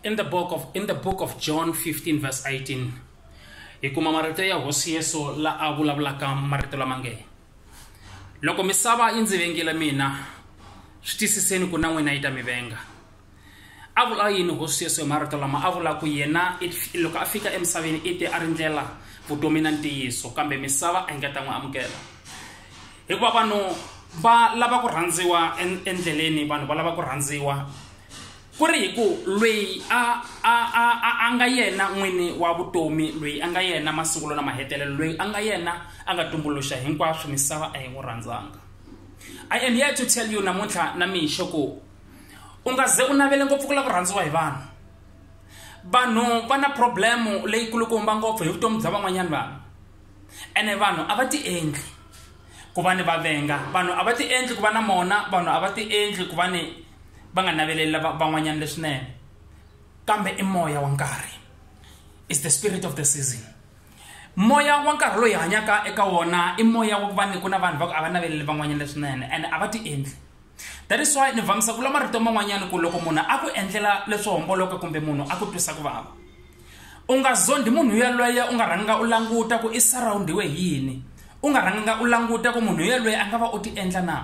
in the book of in the book of john 15 verse 18 hi kuma marito ya hosi yesu la a vulavulaka marito lama nge loko misava yi ndzi vengile mina swi tiyisiseni ku na n'wina yi ta mi venga a vula yini hosi yesu hi marito lama a vula ku yena it- loko a fika emisaveni i te a ri ndlela vutomi na ntiyiso kambe misava a yi nga ta n'wi amukela hikuva vanhu va lava ku rhandziwa endleleni vanhu va lava ku rhandziwa ku ri hi ku lweyi a a a a a nga yena n'wini wa vutomi lweyi a nga yena masungulo na mahetelelo lweyi a nga yena a nga tumbuluxa hinkwaswo misava a yi n'wi rhandzanga i am here to tell you namuntlha na mixo ku u nga ze u navele ngopfu ku lava ku rhandziwa hi vanhu vanhu va na problemu leyikulukumba ngopfu hi vutomi bya van'wanyana vanhu ene vanhu a va ti endli ku va ni va venga vanhu a va ti endli ku va na mona vanhu a va ti endli ku va ni va nga naveleli lava van'wanyana leswinene kambe i moya wa nkarhi is the spirit of the season moya wa nkarhi loyi hanyaka eka wona i moya wa ku va ni ku na vanhu va ku a va naveleli van'wanyana leswinene ene a va ti endli that is why ni vamisa ku la marito man'wanyana ku loko munhu a ku endlela leswo homboloka kumbe munhu a ku twisa ku vava u nga zondi munhu yaloye u nga rhanga u languta ku i surroundiwe hi yini u nga rhanga u languta ku munhu yaloye a nga va u ti endla na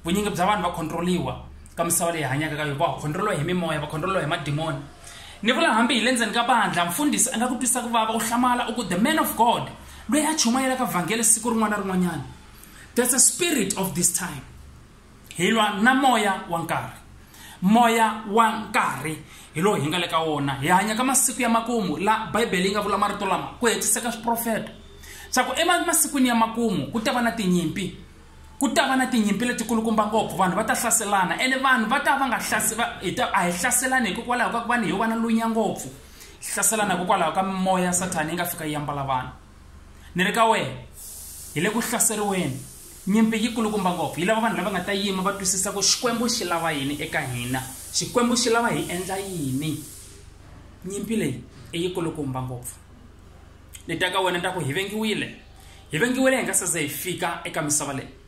vunyingi bya vanhu va controliwa ka misava leyi hanyaka ka yo va controliwa hi mimoya va controliwa hi madimoni ni vula hambi hi le ndzeni ka bandla mfundhisi a nga ku twisa ku vava u hlamala u ku the man of god loyi a chumayelaka vhangele siku rin'wana na rin'wanyana there's a spirit of this time hi lwa na moya wa nkarhi moya wa nkarhi hi lowu hi nga le ka wona hi hanya ka masiku ya makumu la bibele yi nga vula marito lama ku hetiseka swiprofeta swa ku emasikwini ya makumu ku ta va na tinyimpi ku ta va na tinyimpi letikulukumba ngopfu vanhu va ta hlaselana ene vanhu va ta va nga a hi hlaselani hikokwalaho ka ku vanhu hi va na lunya ngopfu hlaselana hikokwalaho ka mimoya ya sathana yi nga fika yi yambala vanhu ni ri ka wena hi le ku hlaseriweni Nyimpi yi kulukumba ngopfu. Yi lava vanhu lava nga ta yima va twisisa ku Xikwembu xi lava yini eka hina. Xikwembu xi lava hi endla yini. Nyimpi leyi i yi kulukumba ngopfu. Ni ta ka wena ni ta ku hi vengiwile. Hi vengiwile hi nga se za hi fika eka misava leyi.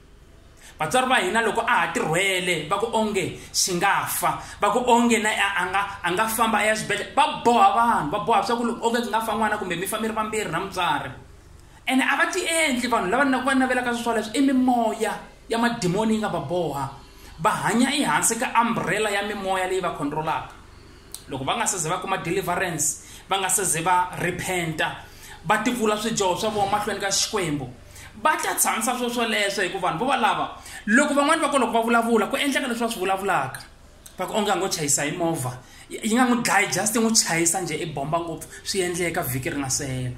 Vatswari va hina loko a ha tirhwele va ku onge xi nga fa va ku onge na a nga a nga famba a ya xibedhlele va boha vanhu va boha swa ku loko onge ku nga fa n'wana kumbe mi fa mi ri vambirhi na mutswari Ene a va tiendli vanhu lava na ku va navelaka swoswoleswo. I mimoya ya madimoni yi nga va boha. Va hanya ehansi ka umbrella ya mimoya leyi va control-aka. Loko va nga se ze va kuma deliverance, va nga se ze va repent-a, va tivula swidyoho swa vona mahlweni ka Xikwembu, va ta tshamisa swoswoleswo hikuva vanhu vo valava loko van'wana va ko loko va vulavula ku endleka leswi va swi vulavulaka. va ku onge a ngo chayisa hi movha yi nga n'wi dlayi just n'wi chayisa njhe i bomba ngopfu swi endleka vhiki ri nga se hela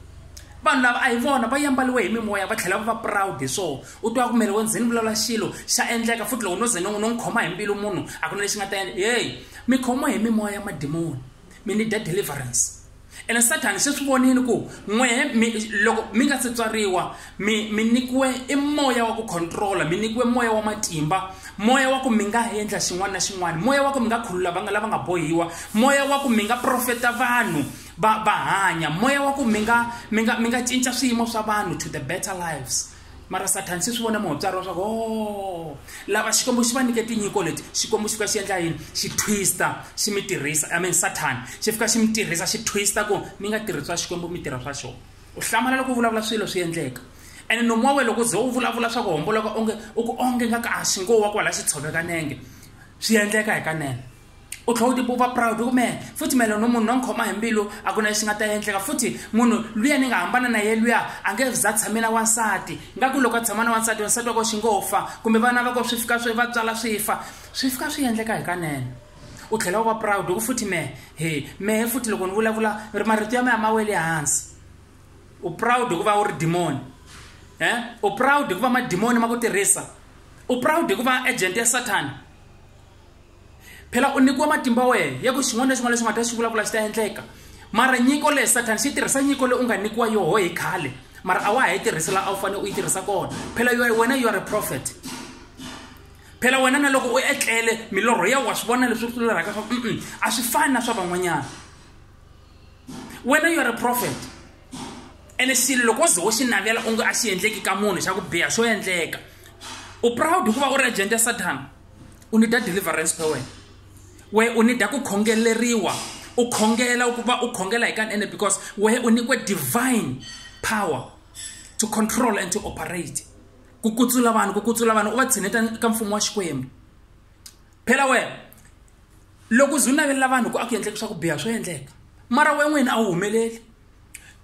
vanhu lava a hi vona va yambaliwe hi mimoya va tlhela va va proud hi swona u twa ku mele wo ndzeni vulavula xilo xa endleka futhi loko no ze no n'wi no n'wi khoma hi mbilu munhu a ku na lexi nga ta endla heyi mi khomiwa hi mimoya ya madimoni mi ni dya deliverance ene sathani se swi vonile ku n'wehe mi loko mi nga se tswariwa mi mi nyikiwe i moya wa ku controla mi nyikiwe moya wa matimba moya wa ku mi nga endla xin'wana na xin'wana moya wa ku mi nga khulula vanga lava nga bohiwa moya wa ku mi nga profeta vanhu va va hanya moya wa ku mi nga mi nga mi nga cinca swiyimo swa vanhu to the better lives mara sathani se swi vona muhotswari wa swaku o lava xikwembu xi va nyike tinyiko leti xikwembu xi fika xi endla yini xi twista xi mi tirhisa i mean sathani xi fika xi mi tirhisa xi twista ku mi nga tirhi swa xikwembu mi tirha swa xona u hlamala loko u vulavula swilo swi endleka ene nomu wa wena loko ze u vulavula swa ku homboloka onge u ku onge nga ka a xi ngo wa kwala xi tshoveka nenge swi endleka hikanene u tlhela u tipupa proud ku mehe futhi mele no munhu no ni khoma hi mbilu a ku na lexi nga ta endleka futhi munhu luya ni nga hambana na ye luya a nge za tshame na wansati nga ku loko a tshama na wansati wansati wa ko xi ngo fa kumbe vana va ko swi fika swi va tswala swi fa swi fika swi endleka hi kanene u tlhela u va proud ku futhi mehe he mehe futhi loko ni vulavula ri marito ya mehe ma wele hansi u proud ku va u ri dimoni e u proud ku va madimoni ma ku tirhisa u proud ku va agent ya sathana phela u nyikiwe matimba wehe ya ku xin'wana na xin'wana lexi u nga ta xi vulavula xi ta endleka mara nyiko leyi sathana xi tirhisa nyiko leyi u nga nyikiwa yoho hi khale mara a wa ha yi tirhisi laha a wu fanele u yi tirhisa kona phela yo wena you are a prophet phela wena na loko u etlele milorho ya wa swi vona leswi swi lorhaka swa mm a swi fani na swa van'wanyana wena you are a prophet ene xilo loko wo ze wo xi navela onge a xi endleki ka munhu xa ku biha xo endleka u proud hikuva u ri agent ya sathana u need deliverance phe wena we u need ku khongeleriwa u khongela ukuba u khongela hi kanene because we u nyikiwe divine power to control and to operate ku kutsula vanhu ku kutsula vanhu u va tshineta ka mfumo wa xikwembu phela wena loko u ze u navelela vanhu ku a ku endleka swa ku biha swo endleka mara we n'wini a wu humeleli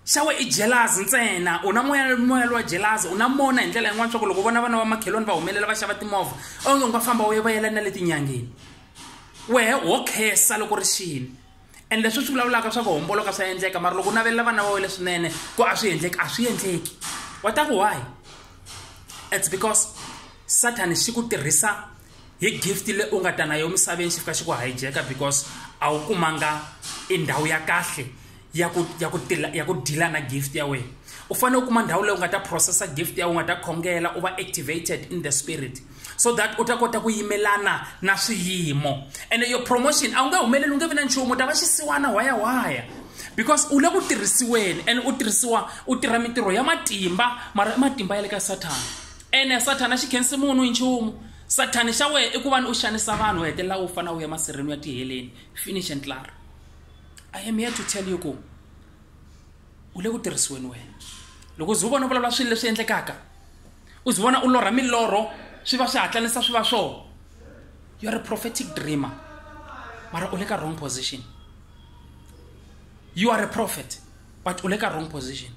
xa we i jelazi ntsena u na moya moya lowa jelazi u na mona hi ndlela yin'wana swa ku loko vona vana va makhelwani va humelela va xava timovha onge u nga famba u ye va yela na le tinyangeni wehe ho khesa loko ri xini and leswi swi vulavulaka swa ku homboloka swa endleka mara loko u navelela vana va we leswinene ku a swi endleki a swi endleki wa ta ku why it's because sathani xi ku tirhisa hi gift le u nga ta na yo misaveni xi fika xi ku hijeka because a wu kumanga i ndhawu ya kahle ya ku ya ku tila ya ku deala na gift ya wena u fanele u kuma ndhawu leyi u nga ta processa gift ya u nga ta khongela u va activated in the spirit so that u ta kota ku yimelana na swiyimo and your promotion a wu nge humeleli u nge vi na nchumu u ta va xisiwana waya waya because u le ku tirhisiweni and u tirhisiwa u tirha mintirho ya matimba mara i matimba ya le ka sathana ene sathana xi khensi munhu hi nchumu sathani xa wena i ku va ni u xanisa vanhu u hetelela u fana u ya masirheni u ya tiheleni finish and clar i am here to tell you ku u le ku tirhisiweni wena loko ze u vona u vulavula swilo leswi endlekaka u ze vona u lorha milorho swi va swi hatlanisa swi va swona you're a prophetic dreamer mara u le ka wrong position you are a prophet but u le ka wrong position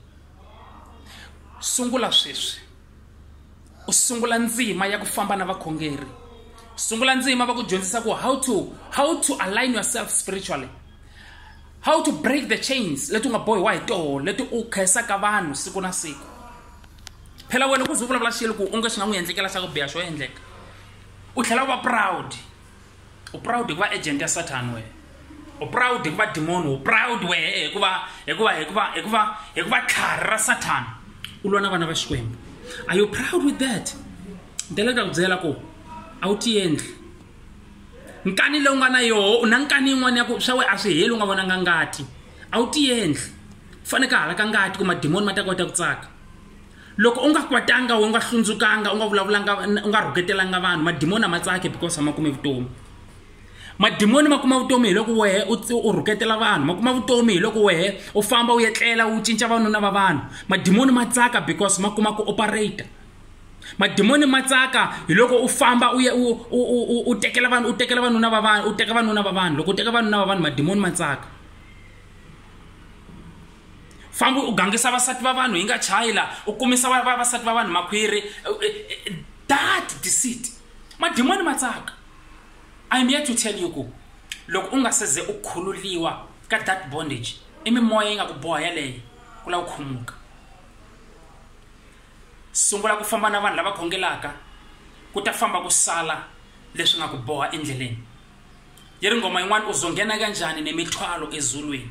sungula sweswi u sungula ndzima ya ku famba na vakhongeri sungula ndzima va ku dyondzisa ku how to how to align yourself spiritually how to break the chains leti u nga bohiwa hi toho leti u khensaka vanhu siku na siku phela wena ku ze u vulavula xilo ku u nge swi nga n'wi endlekela xa ku biha xo endleka u tlhela u va proud u proud hi ku va agent ya satan wena u proud hi ku va demoni u proud wehe eh, hikuva hikuva hikuva hikuva hikuva tlhari ra satan u lwa na vana va xikwembu are you proud with that ndlela ku ta ku byela ku a wu tiendli nkani lowu nga na yoho u na nkani yin'wana ya ku swa we a swi heli u nga vonanga ngati a wu tiendli faneke hala ka ngati ku mademoni ma ta kota ku tsaka loko u nga kwatanga u nga hlundzukanga u nga vulavulanga u nga rhuketelanga vanhu madimoni a ma tsake because a ma kume vutomi madimoni ma kuma vutomi hi loko wehe u rhuketela vanhu ma kuma vutomi hi loko wehe u famba u etlela u cinca vanuna va vanhu madimoni ma tsaka because ma kuma ku operator madimoni ma tsaka hi loko u famba u ya u u u tekela vanhu u tekela vanuna va vanhu u teka vanuna va vanhu loko u teka vanuna va vanhu madimoni ma tsaka fambi u gangisa vasati va vanhu hi nga chayi la u kumisa vasati va vanhu makhwiri eh, eh, eh, that deceit madimoni ma tsaka im here to tell you ku loko u nga seze u khululiwa ka that bondage i mimoya yi nga ku boha yaleyo ku lava ku khumuka sungula ku famba na vanhu lava khongelaka ku ta famba ku sala leswi nga ku boha endleleni yi ri nghoma yin'wana u zonghena kanjhani nemithwalo ezulwini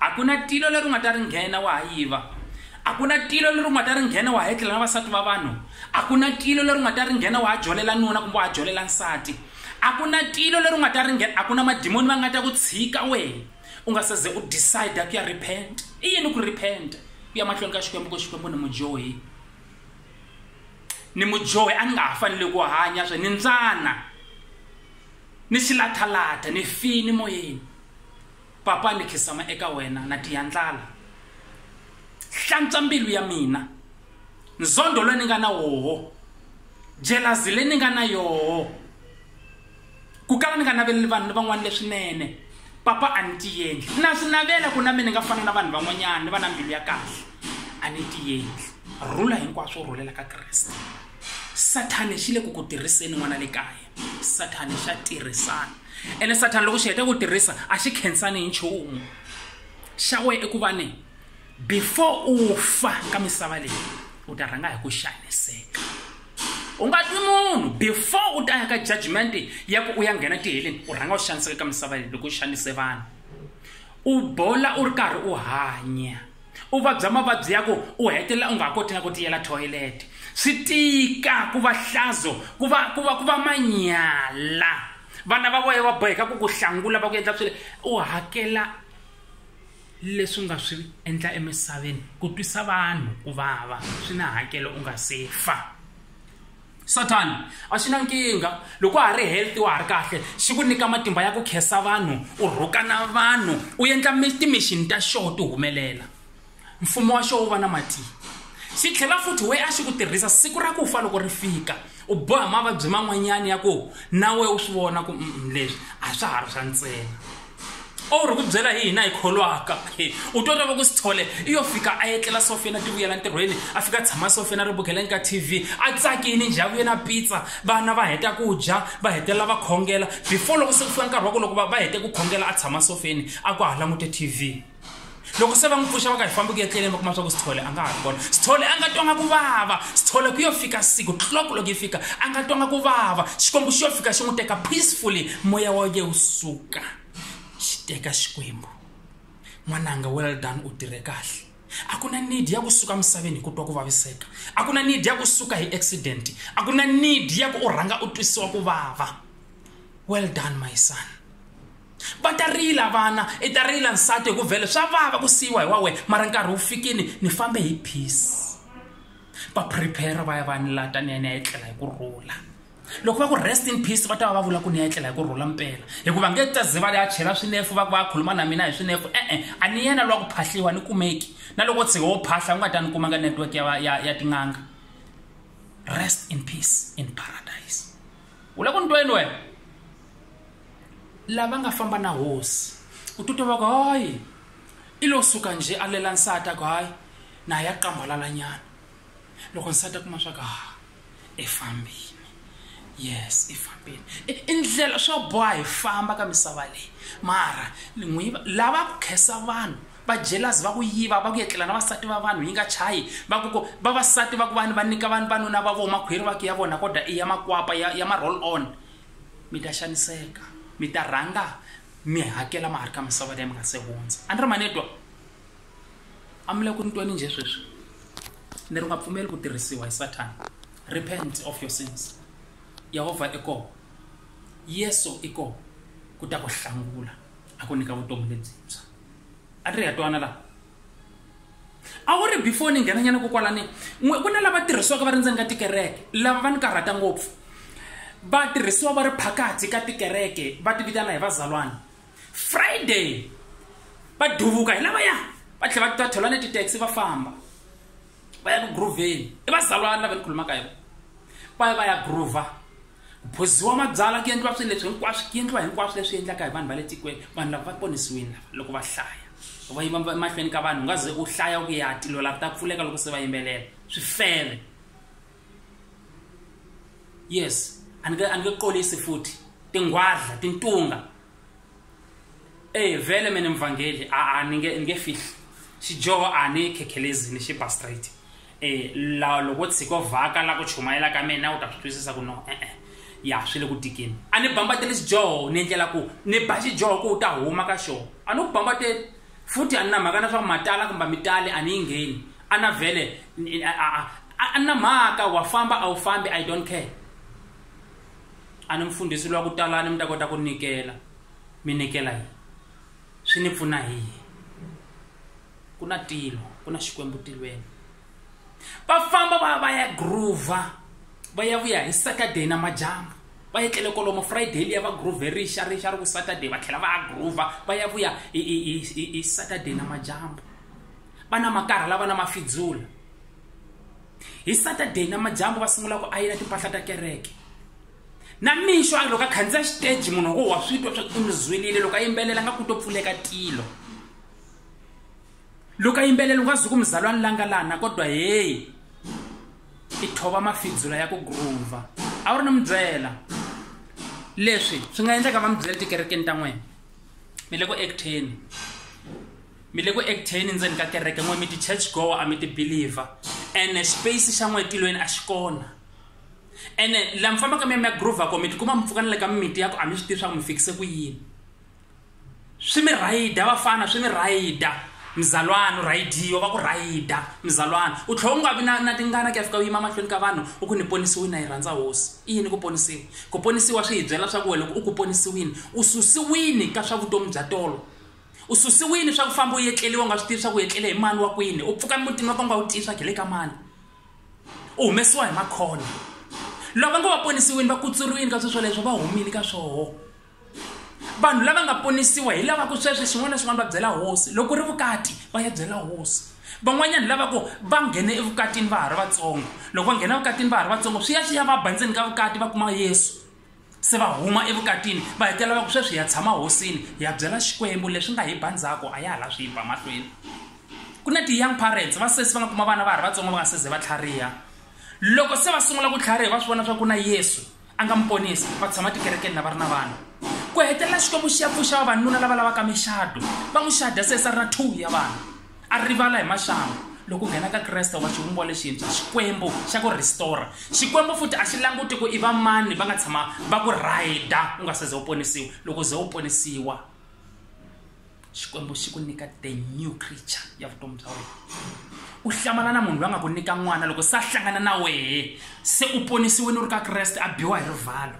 A ku na tilo leri u nga ta ri nghena wa ha yiva, a ku na tilo leri u nga ta ri nghena wa ha etlela na vasati va vanhu, a ku na tilo leri u nga ta ri nghena wa ha jolela nuna kumbe wa ha jolela nsati, a ku na tilo leri u nga ta ri nghena, a ku na madimoni va nga ta ku tshika wena u nga se ze u decide ku ya repent. I yini ku repent? Ku ya mahlweni ka Xikwembu ku Xikwembu ni mudyohi, ni mudyohi a ni nga ha fanele ku hanya swe ni ndzana ni xilathalatha ni fini moyeni Papa, ni khisama eka wena, na tiya ndlala. Hlantswa mbilu ya mina. Nzondo lowu ni nga na woho, jelazi leyi ni nga na yoho, ku kala ni nga naveleli vanhu ni van'wana leswinene, Papa a ni tiendli. Na swi navela ku na mina ni nga fana na vanhu van'wanyana, ni va na mbilu ya kahle. A ni tiendli. Rhula hinkwaswo u rhulela ka Kreste. Sathana xi le ku ku tirhiseni n'wana le kaya. sathani xa tirhisana ene sathani loko xi heta ku tirhisa a xi khensani hi nchumu xa wena eku va ni before u fa ka misava leyi u ta rhanga hi ku xaniseka u nga twi munhu before u ta ya ka judgment ya ku u ya nghena tiheleni u rhanga u xaniseka ka misava leyi loko u xanise vanhu u bola u ri karhi u hanya u vabya mavabyi ya ku u hetelela u nga ha koti na ku tiyela thoyilete swi tika ku va hlazo ku va ku va ku va manyala vana va voya va boheka ku ku hlangula va ku endla swile u hakela leswi nga swi endla emisaveni ku twisa vanhu ku vava swi na hakelo u nga se fa sathani a xi na nkingha loko wa ha ri healthy wa ha ri kahle xi ku nyika matimba ya ku khensa vanhu u rhukana vanhu u endla timixini ta xoho ti humelela mfumo wa xoho wu va na matimba xi tlhela futhi we a xi ku tirhisa siku ra ku fa loko ri fika u boha mavabyi man'wanyana ya ku na we u swi vona ku leswi a swa ha ri swa ntsena o ri ku byela hi hina hi kholwaka u twa lava ku swi thole i yo fika a etlela sofi yena ti vuyela ntirhweni a fika a tshama sofi yena ri bukeleni ka tv a tsakini njhavu yena pizza vana va heta ku dya va hetelela va khongela before loko se ku fika nkarhi wa ku loko va hete ku khongela a tshama sofeni a ku ha langute tv loko se va n'wi pfuxa va ka hi fambi ku ya tleleni va kuma swa ku sithole a nga ha ri kona sithole a nga twanga ku vava sithole ku yo fika siku clock loko yi fika a nga twanga ku vava xikwembu xi yo fika xi n'wi teka peacefully moya wa ye wu suka xi teka xikwembu n'wananga well done u tirhe kahle a ku na need ya ku suka misaveni hi ku twa ku vaviseka a ku na need ya ku suka hi accident a ku na need ya ku u rhanga u twisiwa ku vava well done my son va ta rila vana i ta rila nsati hi ku vhele swa vava ku siyiwa hi wa wena mara nkarhi wu fikini ni fambe hi peace va prepare va ya va ni lata ni ya ni ya etlela hi ku rhula loko va ku rest in peace va ta va va vula ku ni ya etlela hi ku rhula mpela hikuva nge ta ze va ya chela swinefu va ku va khuluma na mina hi swinefu e-e a ni yena lwa ku phahliwa ni kumeki na loko tshike wo phahla u nga ta ni kuma ka network ya, ya, ya tin'anga rest in peace in paradise u la ku ni tweni wena lava nga famba na hosi u titwa va ku hayi i lo suka njhe a lela nsati a ku hayi na ya qambalalanyana loko nsati a kuma swa ku ha i fambile yes i fambile i ndlela swa boha hi famba ka misava leyi mara n'wi lava ku khesa vanhu va jelasi va ku yiva va ku yetlela na vasati va vanhu yi nga chayi va ku ku vavasati va ku vanhu va nyika vanhu vanuna va vona makhwiri va ku ya vona kodwa i ya makwapa ya ya ma-roll on mi ta xaniseka mi ta rhanga mi hakela mahari ka misava leyi mi nga se hundza a ni ri manetwa a mi le ku ni tweni njhe sweswi ni ri nga pfumeli ku tirhisiwa hi sathana repent of your sins yehovha i kona yesu i kona ku ta ku hlangula a ku nyika vutomi lebyintshwa a ni ri ya twana laha a wu ri before ni nghenanyana kokwalani n'we ku na lava tirhisiwaka va ri ndzeni ka tikereke lava va ni karhata ngopfu va tirhisiwa va ri phakathi ka tikereke va ti vitana hi vazalwana friday va duvuka hi lavaya va tlhela va ta thola ni titaxi va famba va ya ku grooveni i vazalwana lava ni khulumaka hi va ya va ya groova Ku phuziwa mabyala ku endliwa swilo leswi hinkwaswo ku endliwa hinkwaswo leswi endlaka hi vanhu va le tikweni vanhu lava va ponisiwile lava loko va hlaya va yima emahlweni ka vanhu u nga ze u hlaya ku ya tilo lava ta pfuleka loko se va yimbelela swi fele yes a ni nge a ni nge qolisi futhi tinghwadla tintunga ey vele mina mvangeli a a ni nge ni nge fihli xidyoho a ni khekhelezini xi ba straight eh la loko tshiko vhaka la ku chumayela ka mina u ta swi twisisa ku no eh eh ya swi le ku tikeni a ni bambateli xidyoho ni endlela ku ni ba xidyoho ku u ta huma ka xona a ni ku bambateli futhi a ni na mhaka na swa ku matala kumbe mitali a ni yi ngheni a na vhele a ni na mhaka wa famba a wu fambi i don't care a ni mfundhisi lwa ku talani mi ta kota ku nikela mi nikela yini swi ni pfuna hi yini ku na tilo ku na xikwembu tilweni va famba va va ya groova va ya vuya hi saturday na majambu va etlele kolomo friday liya va groove rixa rixa ri ku saturday va tlhela va ya groova va ya vuya hi saturday na majambu va na makarha lava na mafidzula hi saturday namadyambu va sungula ku ayina timpahla ta kereke na mixo a loko a khandziya xiteji munhu wo wa swi twa swa u mi zwelile loko a yimbelela nga ku to pfuleka tilo loko a yimbelela u nga zwi ku muzalwani la nga lana kodwa heyi i thova mafidzula ya ku groova a wu ri ni mi byela leswi swi nga endleka va mi byela tikerekeni ta n'wina mi le ku acteni mi le ku acteni ndzeni ka kereke n'we mi ti-church goer a mi ti-believer ene space xa n'we tilweni a xi kona ene laha mi fambaka mi ya mi ya groova ko mi tikuma mi pfuka ni le ka mimiti ya ku a mi swi tivi swa ku mi fikise ku yini swi mi rhayida vafana swi mi rhayida mzalwana u rhayidiwa va ku rhayida mzalwana u tlhela u nga vi na na tingana ku ya fika u yima mahlweni ka vanhu u ku ni ponisiwini na yi rhandza hosi i yini ku ponisiwa ku ponisiwa swi hi byela swa ku wena loko u ku ponisiwini u susiwini ka swa vutomi bya tolo u susiwile swa ku famba u yetleriwa u nga swi tivi swa ku yetlele hi mani wa kwini u pfuka emutini wa ka u nga wu tivi swa ku hi le ka mani u humesiwa hi makhona loko va nga va ponisiwini va kutsuriwini ka swilo swoleswo va humile ka swoho vanhu lava nga ponisiwa hi lava ku sweswi xin'wana na xin'wana va byela hosi loko ku ri vukati va ya byela hosi van'wanyana lava ku va nghene evukatini va ha ri vatsongo loko va nghena evukatini va ha ri vatsongo swi ya swi ya va bandzeni ka vukati va kuma yesu se va huma evukatini va hetelela va ku sweswi ya tshama hosini hi ya byela xikwembu leswi nga hi ba ndzhaku a ya ha la swi yimba mahlweni ku na ti-young parents va sesi va nga kuma vana va ha ri vatsongo va nga seze va tlhariha loko se va sungula ku tlhariha va swi vona swa ku na yesu a nga mi ponisi va tshama tikerekeni na va ri na vana ku hetelela xikwembu xi ya pfuxa vavanuna lava lavaka mixado va n'wi xada sesi a ri na two ya vana a rivala hi maxangu loko u nghena ka kreste wa xivumbiwa lexintshwa xikwembu xa ku restora xikwembu futhi a xi languti ku i va mani va nga tshama va ku rhayida u nga se ze u ponisiwa loko ze u ponisiwa xikwembu xi ku nyika the new creature ya vutomi bya wena u hlamala na munhu loyi a nga ku nyika n'wana loko se a hlangana na wehe se u ponisiwini u ri ka kreste a biwa hi rivalo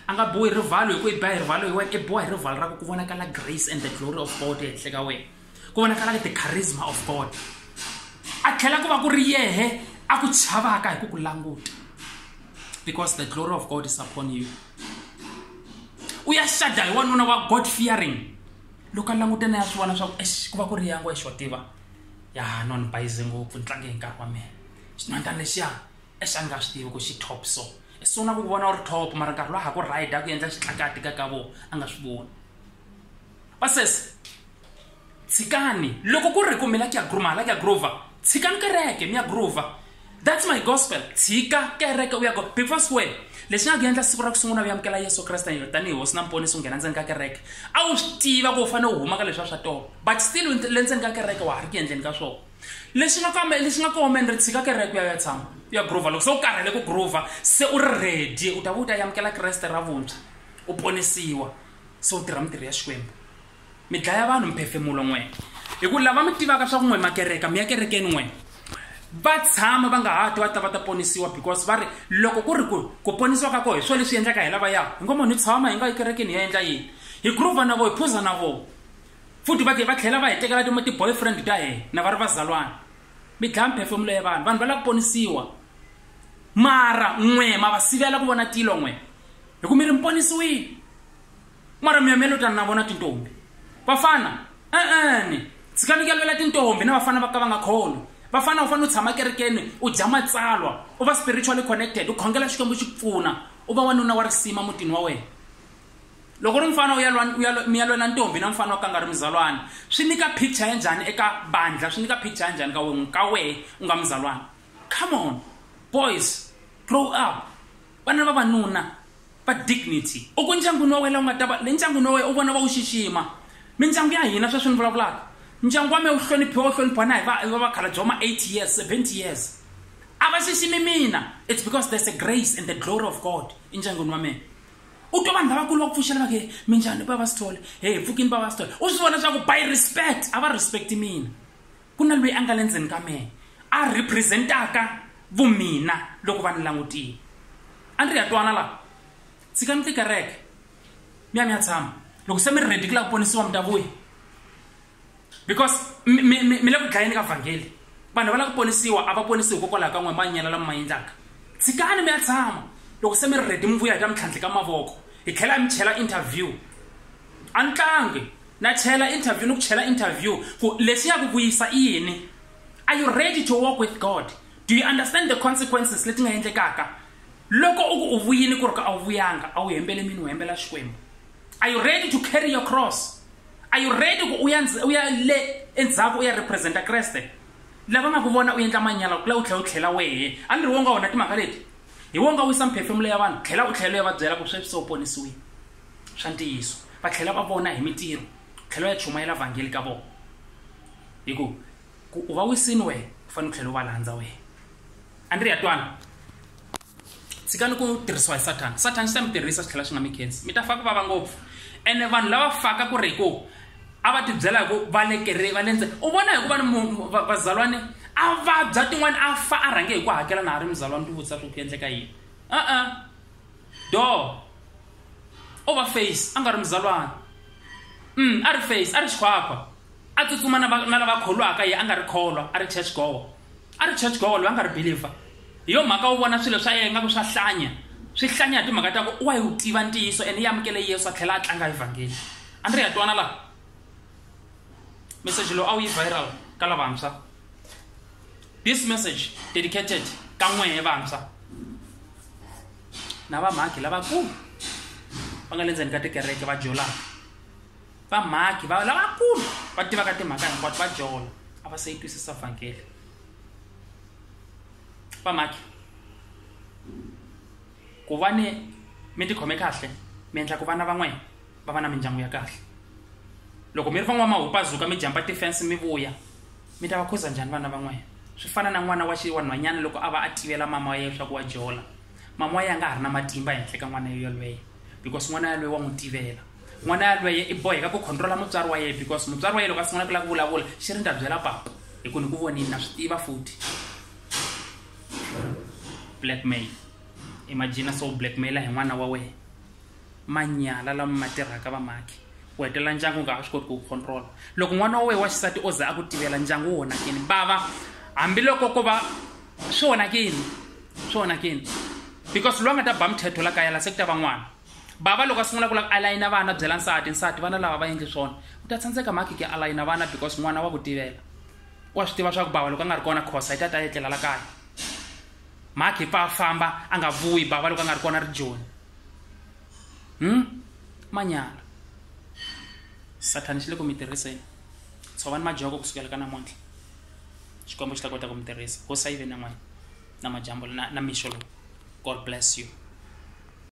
a nga biwi hi rivalo hi ku i biwa hi rivalo hi wena i biwa hi rivalo ra ku ku vonakala grace and the glory of god ehenhla ka wena ku vonakala ke the charisma of god a tlhela ku va ku ri yehe a ku chavaka hi ku ku languta because the glory of god is upon you u ya xada hi wanuna wa god fearing loko a languta na ya swi vona swa ku ex ku va ku ri yangu exo tiva ya no ni bayize ngopfu ni tlange hi nkarhi wa mina xinhwantana lexiya exa ni nga swi tivi ku xi top so i sungula ku vona u ri top mara nkarhi lowa ha ku rida ku endla xitlakati ka ka vona a nga swi voni vasesi tshikani loko ku ri ku mi la ku ya gruma la ku ya groova tshikani kereke mi ya groova that's my gospel tshika kereke u ya go before square lexi nga ku endla siku ra ku sungula u amukela yesu kreste tanihi hosi na mponisi u nghena ndzeni ka kereke a wu swi tiva ku u fanele u huma ka leswi a swa tona but still le ndzeni ka kereke wa ha ri ku endleni ka swona lexi nga kambe lexi nga komeni ri tshika kereke u ya ya tshama u ya groova loko se u karhele ku groova se u ri ready u ta va u ta yamukela kreste ra vuntshwa u ponisiwa so tirha mitirho ya xikwembu mi dlaya vanhu mphefemulo n'we hi ku lava mi tivaka swa ku n'we makereka mi ya kerekeni n'we va tshama va nga ha ti va ta va ta ponisiwa because va ri loko ku ri ku ku ponisiwa ka koho hi swona leswi endlaka hi lava ya hi ngo munhu hi tshama hi nga yi kerekeni hi ya endla yini hi groova na voho hi phuza na voho futhi va va tlhela va hi tekela ti-boyfriend ta hina na va ri vazalwana mi dlaya mphefemulo ya vanhu vanhu va lava ku ponisiwa mara n'we ma va sivela ku vona tilo n'we hi ku mi ri mi ponisiwile mara mi ya mi ya lotana na vona tintombi vafana e-ene tshikani ku yalivela tintombi na vafana va ka va nga kholo vafana u fanele u tshama kerekeni u dya matsalwa u va spiritually connected u khongela xikwembu xi ku pfuna u va wanuna wa risima mutini wa wena loko ri mfana mi ya lwela ntombi na mfana wa ka nga ri muzalwana swi nyika picture ya njhani eka bandla swi nyika picture ya njhani ka wehe ka wehe u nga muzalwana come on boys grow up vana va vanuna va dignity u ku ndyangwini wa wena la u nga ta va le ndyangwini wa wena u vona va wu xixima mindyangu ya hina sweswi ni vulavulaka ndyangu wa mina wu hloniphiwa wu hloniphiwa na hi va va vakhala bya ma 8 years 70 years a va xiximi mina it's because there's a grace and the glory of god endyangwini wa mina u twa vanhu lavakulu va ku pfuxela vake minjhani baba sithole he pfukini baba sithole u swi vona swa ku by respect a va respect mina ku na loyi a nga le ndzeni ka mehe a representaka vumina loko va ni langutile a ni ri ya twana laha tshikani tikereke mi ya mi ya tshama loko se mi ri redi ku la ku ponisiwa mi ta vuya because mi le ku dlayeni ka vhangeli vanhu va la ku ponisiwa a va ponisi hikokwalaho ka n'we manyela lama ma endlaka tshikani mi ya tshama loko se mi ri redi mi vuya hi ta mi tlhandle ka mavoko hi tlhela mi chela interview a ni tlangi Na chela interview ni ku chela interview ku lexi ya ku vuyisa i yini. Are you ready to walk with God? Do you understand the consequences leti nga endlekaka? Loko u ku u vuyini ku ri ka a wu vuyanga, a wu hembele mini u hembela Xikwembu. Are you ready to carry your cross? Are you ready ku u ya u ya le endzhaku u ya representa Kreste? Lava nga ku vona u endla manyala ku la u tlhela u tlhela wehe. A ni ri wo nga wona timhaka leti? Hi wo nga wisa mphefemulo ya vanhu, tlhela u tlhela u ya va byela ku sweswi se u ponisiwile. swa ntiyiso va tlhela va vona hi mitirho tlhela ya chumayela vhangeli ka vona hi ku ku u va wisini wena u fanele u tlhela u va landza wena a ni ri ya twana tshikani ku tirhisiwa hi sathana sathana xi ta mi tirhisa swi tlhela swi nga mi khensi mi ta fa ku vava ngopfu ene vanhu lava faka ku ri hi ku a va tibyela hi ku va le kere va le ndze u vona hi ku va ni vazalwane a vabya tin'wana a fa a rhange hi ku hakela na ha ri muzalwane ti vutisa ku ku endleka yini a-a do o vha face a nga ri muzalwana mm, a ri face a ri xikhwakhwa a tsutsuma na lava kholwaka ye a nga ri kholwa a ri church gowa a ri church gowa loyi a nga ri believer hi yo mhaka wu vona swilo swa yena nga ku swa hlanya swi hlanya hi timhaka ta ku wa yi wu tiva ntiyiso ene yi amukele yesu a tlhela a tlanga evhangeli a ni ri ya twana laha meseji lowu a wu yi viral ka lavantshwa This message dedicated ka n'wehe vantshwa na vamhakhi lavakulu va nga le ndzeni ka tikereke va jolaka vamhakhi va lavakulu va tivaka timhaka hinkwato va jola a va se yi twisisa vhangeli vamhakhi ku va ni mi tikhome kahle mi endla ku vana van'wana va va na mindyangu ya kahle loko mi ri van'wamahupazuka mi jamba tifense mi vuya mi ta va khuza njhani vana van'wana swi fana na n'wana wa xiwanhwanyana loko a va a tivela mama wa yena swaku wa jola mama wa yena a nga ha ri na matimba ehenhla ka n'wana yolweyo because n'wana yalweyo wa n'wi tivela n'wana yalweyo i boheka ku controla mutswari wa yena because mutswari wa yena loko a sungula ku lava ku vulavula xi ri ni ta byela papa hi ku ni ku vonini na swi tiva futhi blackmail imagina so blackmaila hi n'wana wa wena manyala lama ma tirhaka vamaki u hetelela ndyangu nga ha swi koti ku wu controla loko n'wana wa wena wa xisati o za a ku tivela ndyangu wu onhakini vava hambiloko ko va swi onhakini swi onhakini because loyi a nga ta ba mthetho la kaya la se ku ta va n'wana bava loko a sungula ku la ku alayina vana byela nsati nsati vana lava va endli swona u ta tsandzeka mhaki ke alayina vana because n'wana wa ku tivela wa swi tiva swa ku bava loko a nga ri kona khosa yi ta ta etlela la kaya mhakhi pfa a famba a nga vuyi bava loko a nga ri kona ri joni hmm? manyala sathani xi le ku mi tirhiseni tshovani majoko kusukela ka namuntlha xikwembu xi ta kota ku mi tirhisa hosi a yi ve na n'wina na majambu na, na mixo lowu god bless you